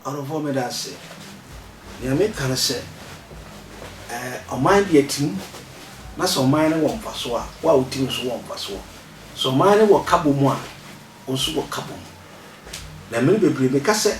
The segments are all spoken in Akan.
Ɔdɔfoɔ meda ase. Deɛ meka no sɛ ɛɛ ɔman deɛ tim na sɛ ɔman no wɔ mfasoɔ a wo a wotim nso wɔ mfasoɔ. Sɛ ɔman no wɔ kabɔ mu a wo nso wɔ kabɔ mu. Na mmere bebree meka sɛ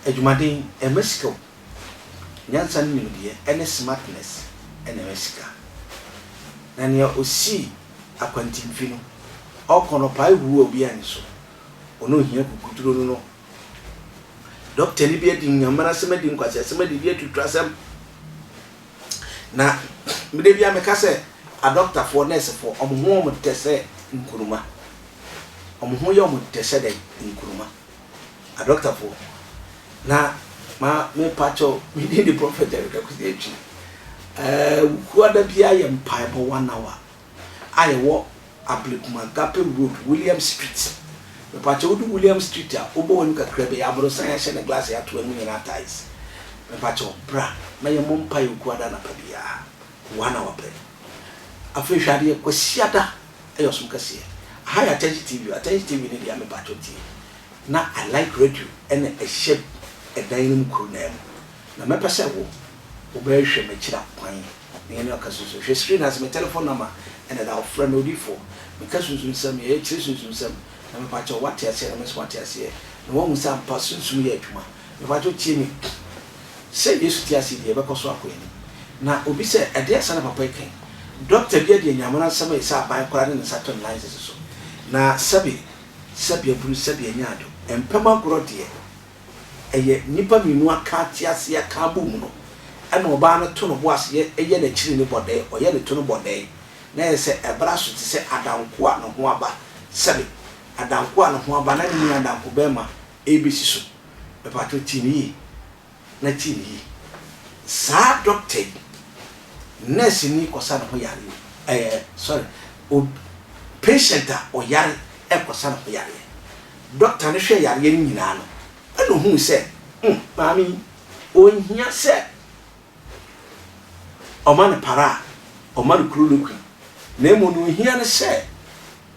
Adwumaden, ɛma sika o. Nyansa ne nimdeɛ, ɛne smartness, ɛna ɛma sika. Na nea osii akwantinfi no, ɔkɔ no ɔpae huu a obiara nni so. Wɔn a ohia kukuduro no no dɔktani bi adi nyamanasɛm, adi nkwaseasɛm, adidi atutrasɛm. Na da biara meka sɛ, adɔktafoɔ, nɛɛsefoɔ, wɔn ho yɛ wɔn dɛ sɛ nkuruma. Wɔn ho yɛ wɔn dɛ sɛ dɛn? Nkuruma. adɔktafo na ma me pa kyɛw me din de prophet Eric Akwasi Atwi ɛɛ wukua da biara yɛ mpaebɔ one hour a yɛwɔ Ablekuma Gape Road William Street me pa kyɛw do William Street a wobɔ w'anim kakra bɛyɛ aborosan yɛahyɛ ne glass yɛato anim nyinaa tiles me pa kyɛw bra na yɛ mmɔ mpae wukua da anapa biara one hour pɛ afei hwɛ adeɛ kwasiada ɛyɛ ɔsom kɛseɛ aha yɛ atɛnkye tv o atɛnkye tv no deɛ mepakyɛw tie na i like radio ɛna ɛhyɛ ɛdan no mu koro naa mu na mɛpɛ sɛ wo wobɛhwɛ makyira kwan na yɛne ɔka sunsun hwɛ screen ase me telephone number ɛna da hɔ frɛ me odiifoɔ meka sunsun nsɛm yɛyɛ kyerɛ sunsun nsɛm na mepakyɛw wate aseɛ na me nso mate aseɛ na woahu sɛ ampa sunsun yɛ adwuma Mpacho tie me Sɛ Yesu te ase deɛ yɛbɛkɔ so akɔ yɛn anim. Na obi sɛ, Ɛdeɛn asa na papa yi ka yi? Doctor bi adi Anyamena nsɛm ayi sɛ aban koraa de ne nsa to nnan sisi so. Na sɛbe sɛbe aburu sɛbe anya ado. Mpam agorɔ deɛ ɛyɛ nnipa mmienu aka te ase aka abɔ mu no ɛna ɔbaa no to no bo ase yɛ yɛ n'akyiri no bɔdɛɛ ɔyɛ ne to no bɔdɛɛ na ɛyɛ sɛ ɛbra so te sɛ adanko a ne ho aba sɛbe adanko a ne ho aba na ne nua adanko bɛɛma ɛrebɛsi so. Mpakyɛw tie me yie na tie me yie. Saa dɔkta yi, nurse ni kɔsa ne ho yareɛ ɛɛ sorry, ob, patient a ɔyare ɛrekɔsa ne ho yareɛ. Dɔkta no hwɛɛ yareɛ no nyinaa no, ɛna ohuu sɛ, hmm, maame yi, ɔnhia sɛ ɔma no para a, ɔma no chloroquine. Na mmom nea ɔhia ne sɛ,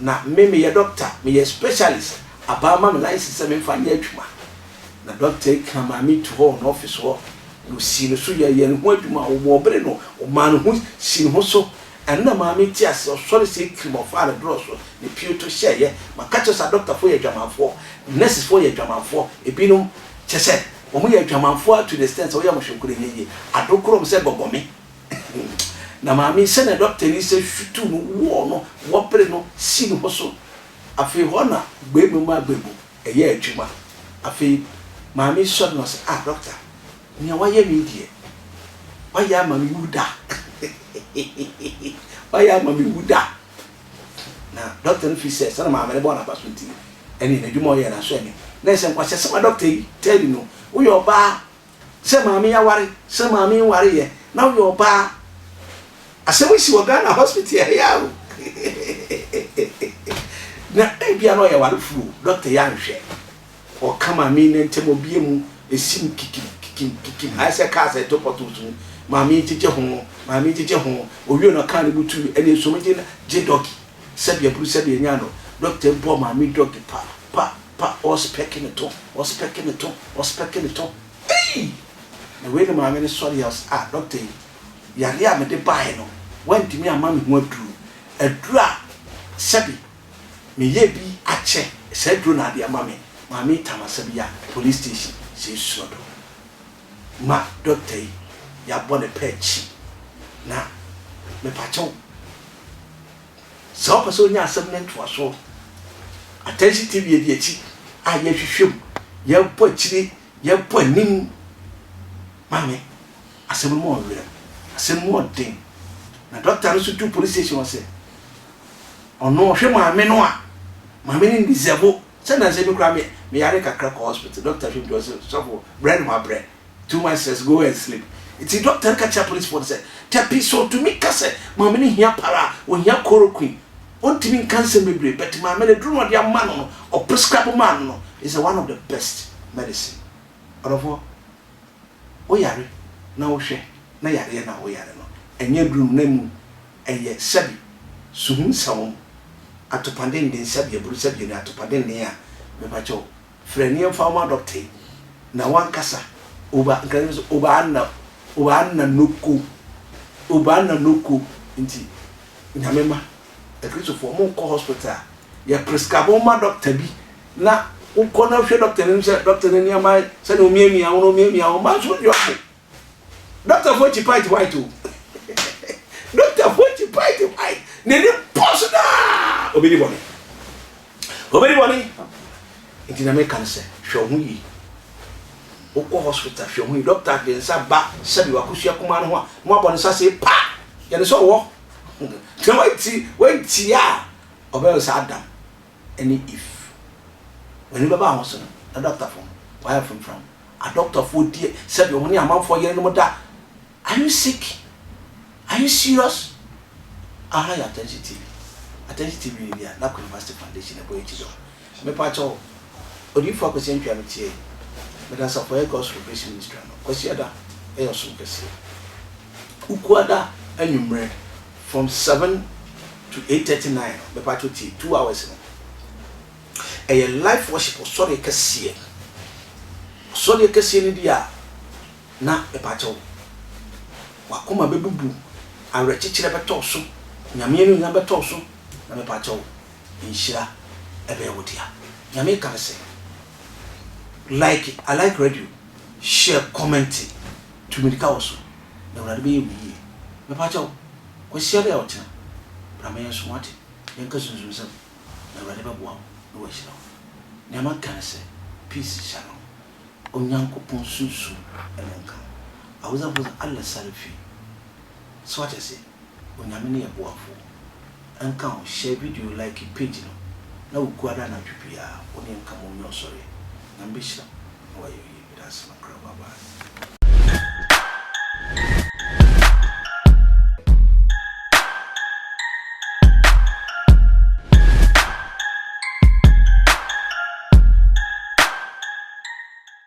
Na me meyɛ dɔkta, meyɛ specialist, abaa ma me license sɛ memfa nyɛ adwuma. Na dɔkta yi kaa Maame tu hɔ wɔ n'ɔfese hɔ, na ɔsii no so yɛɛ yɛn ho adwuma, ɔbɔɔ bere no, ɔmaa ne ho sii ne ho so. Ɛno na Maame nte aseɛ, ɔsɔre sɛɛ kirim, ɔfaa ne dorɔ so, ne pio to hyɛɛeɛ. Maka kyerɛ wo sɛ adɔktafoɔ yɛ adwamanfoɔ, nɛsesfoɔ yɛ adwamanfoɔ, ebinom, kyerɛ sɛ, wɔyɛ adwamanfoɔ ara to the extent sɛ woyɛ wɔn hwɛ mpo no ɛnyɛ yie. Adokoro wɔn sɛ gɔgɔme. Na Maame, sɛnea dɔktani sɛ hwituu no wɔɔ no wɔpere no si ne ho so. Afei hɔ na gbebu ma gbebu ɛyɛ adwuma. Afei Maame sɔre na ɔse, Ah, dɔkta, nea wayɛ me yi deɛ, wayɛ ama me wu da. Wayɛ ama me wu da. Na dɔkta no fii sɛ sɛnea Maame no bɔɔ no abaso nti, ɛnneɛ n'adwuma a ɔyɛɛ no asɔ ani. Na ɛsɛ nkwaseasɛm a dɔkta yi tɛɛ ni no, Woyɛ ɔbaa. sɛ maame aware sɛ maame nware yɛ na woyɛ ɔbaa asɛm yi si wɔ Ghana hospital ɛyɛ a o na ebia na ɔyɛ ware furu o doctor yɛ anhwɛ ɔka maame ne ntɛm ɔbie mu esim kikim kikim kikim ayɛ sɛ cars ɛto potholes mu maame gyegye ho maame gyegye ho owie na ɔka ne mu tu ɛne nsuom gye gye dɔgi sɛbi aburu sɛbi enya no doctor bɔ maame dɔgi pa pa Pa ɔspɛke ne to ɔspɛke ne to ɔspɛke ne to ei! Na wei ne maame no sɔre a ɔse ah dɔkta yi yareɛ a mede baeɛ no wantumi amma me ho aduro aduro a sɛbi meyɛ bi akyɛ saa aduro na ade ama me maame yi tam asɛm yi a police station sɛ ɛsuo do ma dɔkta yi yɛabɔ ne pɛ akyi na mepakyɛw Sɛ wopɛ sɛ wonya asɛm no ntoasoɔ, Attention TV adi akyi a yɛhwehwɛ mu, yɛbɔ akyire, yɛbɔ anim ma me. Asɛm no mu wɔ werɛ, asɛm mu wɔ den. Na dɔkta no nso duru police station hɔ sɛ, ɔno ɔhwɛ maame no a, maame no ndisɛbo. Sɛ nansa bi koraa me meyare kakra kɔ hospital, dɔkta hwɛ me hwɛ ɔse, sɔfo brɛ no ma brɛ, Too much stress, go and sleep. Ntsi dɔkta no ka kyerɛɛ apolisifo no sɛ, Tappy, sɛ otumi ka sɛ maame no hia para a, ohia chloroquine. Ontumi nka nsɛm bebree, but maame no, aduru no a ɔde ama no no, ɔprescribe maa no no, is the one of the best medicine. Ɔdɔfoɔ, woyare na wohwɛ na yareɛ no a woyare no, ɛnyɛ aduru no, na mmom ɛyɛ sɛbi suhum sawom, atopadennen, sɛbi aburu, sɛbi ani atopadennen a, mepa kyɛw, Frɛ ne yɛmfa wo ma dɔkta yi na wankasa Obaa nka ne sɛ Obaa nna Obaa nna noko Obaa nna noko nti Nyame mma Akristofoɔ ɔmo nkɔ hospital a yɛ prescribe wo ma dɔkta bi na wokɔ na hwɛ dɔkta no anim sɛ dɔkta no nneɛma sɛnea omiamia wo no omiamia wo mma nso yɛ ɔmo Doctor foɔ kyi pint white o Doctor foɔ kyi pint white N'ani pɔ so daa Obɛdi bɔne Obɛdi bɔne Nti na meka no sɛ hwɛ ho yie Wokɔ hospital hwɛ ho yie Doctor de nsa ba sɛbi wakosua kumaa no ho a na wabɔ ne nsa se pa Yɛne sɛ ɔwɔ Na wanti wantia a ɔbɛyɛ sɛ Adam ne if w'ani bɛba ho so no na dɔktafo no w'ayɛ fomfram adɔktɔfoɔ deɛ sɛdeɛ ɔmo ne amanfoɔ yere nom da are you sick are you serious aha yɛ atɛnhye tv atɛnhye tv ne deɛ na kwinivasiti foundation ɛbɔ yɛ kyidɔ mepa kyɛ wo odiyifoɔ akwasi antwia me tie meda asafo ayɛ gospel grace ministry ano kwasi ada ɛyɛ ɔsom kɛseɛ ukuada anwummerɛ. From seven to eight thirty nine no mepatwo tie two hours no ɛyɛ life worship ɔsɔreɛ kɛseɛ ɔsɔreɛ kɛseɛ no deɛ a na mepatwo wakoma bɛbubu awerɛkyekyerɛ bɛtɔ so nyame anuonyam bɛtɔ so na mepatwo nhyira ɛbɛyɛ wo dea nyame ka ne sɛ like I like radio share comment. Tumi ka wo so, na Awurade bɛyɛ wo yie. Mepa kyɛw, Kwasiada a ɔkyena, bra ma yɛnsom ade, yɛnka sunsumsɛm, na Awurade bɛboa wo na wahyira wo. Nea mɛka ne sɛ, Peace, Shalom. Onyankopɔn sunsum na ɛnka wo. Awuzafoɔ sɛ Allah Salifi. So wate aseɛ? Onyame ne yɛ boafo nka wo share video like page no na wo gu ada anadwo biaa wo ne yɛ nka mo ɔnwɛ ɔsɔreɛ Nyame bɛ hyira mo na wa yɛ oye meda ase makra bye bye.